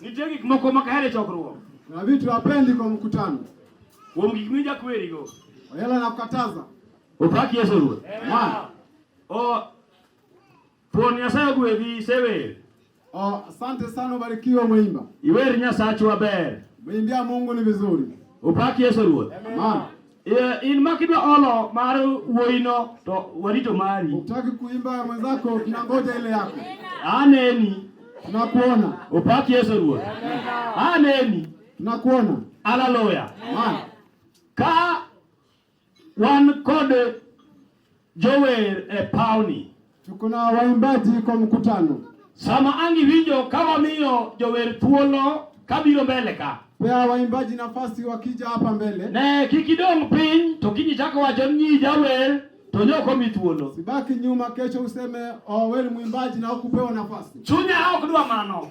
Nitie gik moko ma kahere chokruok. Na vitu hapendi kwa mkutano. Kuom gik mija kweri go. Oyela na kukataza. Opak Yesu Ruoth. Amen. O Pon Nyasaye ogwedhi sewer. O asante sana ubarikiwe umeimba. Iwer Nyasachu aber. Umeimbia Mungu ni vizuri. Opak Yesu Ruoth. Amen. Yeah, in makidwa olo mar wuoyino to warito mari. Utaki kuimba mwenzako, tunangoja ile yako. Aneni. Tunakuona. Upaki Yesu Ruoth. Aneni. Tunakuona. Haleluya. Ka wan kod Jower e pawni. Tuko na waimbaji kwa mkutano. Sama angi winjo ka wamiyo jower thuolo kabiro mbele ka. Pea waimbaji nafasi wakija hapa mbele. Ne kik idong piny to kiny ichako wacho ni jawer to ne ok omi thuolo. Sibaki nyuma, kesho useme oh, wewe ni mwimbaji na hukupewa nafasi. Chunya ok dwa mano.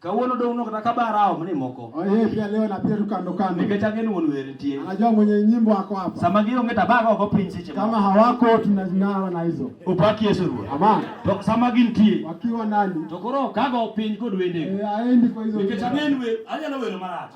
Kawuono dong nok na kaba rao mni moko. Oye pia leo na pia tukando kando. Nikech ang'e ni wuon wer nitie. Anajua mwenye nyimbo wako hapa. Sama gionge to abago oko piny seche Kama hawako tunazing'awa na hizo. Upaki Yesu Ruoth. Amen. To sama gintie. Wakiwa ndani. To koro kago piny kod wende. Eh, aendi kwa hizo. Nikech ang'e ni anyalo wero marach.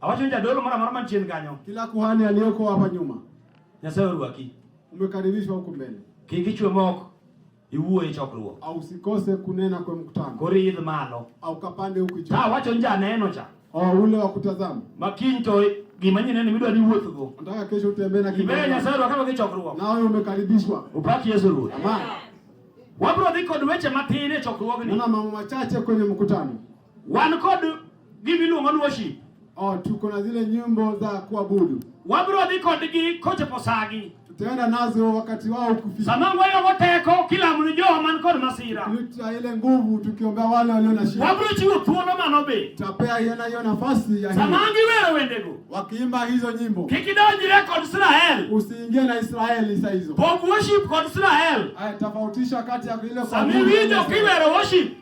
Awacho ni jadolo mara mara manchien kanyo. Kila kuhani aliyoko hapa nyuma. Nyasaye orwaki. Umekaribishwa huko mbele. Kik ichwe moko. Iwuo e chokruok. Au usikose kunena kwa mkutano. Koridh malo. Au kapande huko juu. Awacho ni janeno cha. Oh, ule wa kutazama. Makiny to gima nyine ni midwa ni wuoth go. Nataka kesho utembee na kidogo. Ibe Nyasaye wakati wa chokruok. Na wewe umekaribishwa. Upaki Yesu Ruoth. Amen. Wabro dhi kod weche matin e chokruogni. Nuna mambo machache kwenye mkutano. Wan kod Gima iluongo ni worship. Oh, tuko na zile nyimbo za kuabudu. Wabiro dhi kodgi kochopo sagi. Tutaenda nazo wakati wao ukifika. Sama wayogo teko kila mtu jo man kod masira. Tuta ile nguvu tukiombea wale walio na shida. Wabiro chiwo thuolo mano be. Tutapea yena hiyo nafasi ya hii. Sama giwero wendego. Wakiimba hizo nyimbo. Kik idonjre kod Israel. Usiingie na Israeli saa hizo. Pog worship kod Israel. Aya, tofautisha kati ya ile kwa. Sama iwinjo kiwero worship.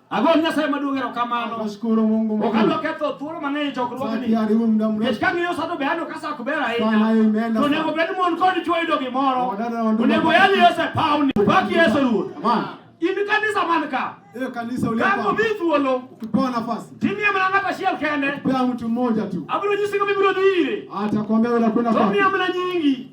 Ago Nyasaye maduong' erokamano. Nashukuru Mungu mkuu. Okalo ketho thuolo mang'eny e chokruogni. Sati aribu muda mrefu. Nikech ka ng'iyo sano be aneno ka sa ok ber ahinya. Sana hiyo imeenda. To onego bed mon kod chwo yudo gimoro. Wadada wandugu. Onego yali Yesu e pawni. Upaki Yesu Ruoth. Amen. In kanisa man ka. Hiyo kanisa ulipo. Kama mimi thuolo. Ukipewa nafasi. Timu ya mlanga tashiel kende. Ukipewa mtu mmoja tu. Abiro nyisi kama ibiro dhire. Atakwambia unakwenda kwa. Timu ya mlanga nyingi.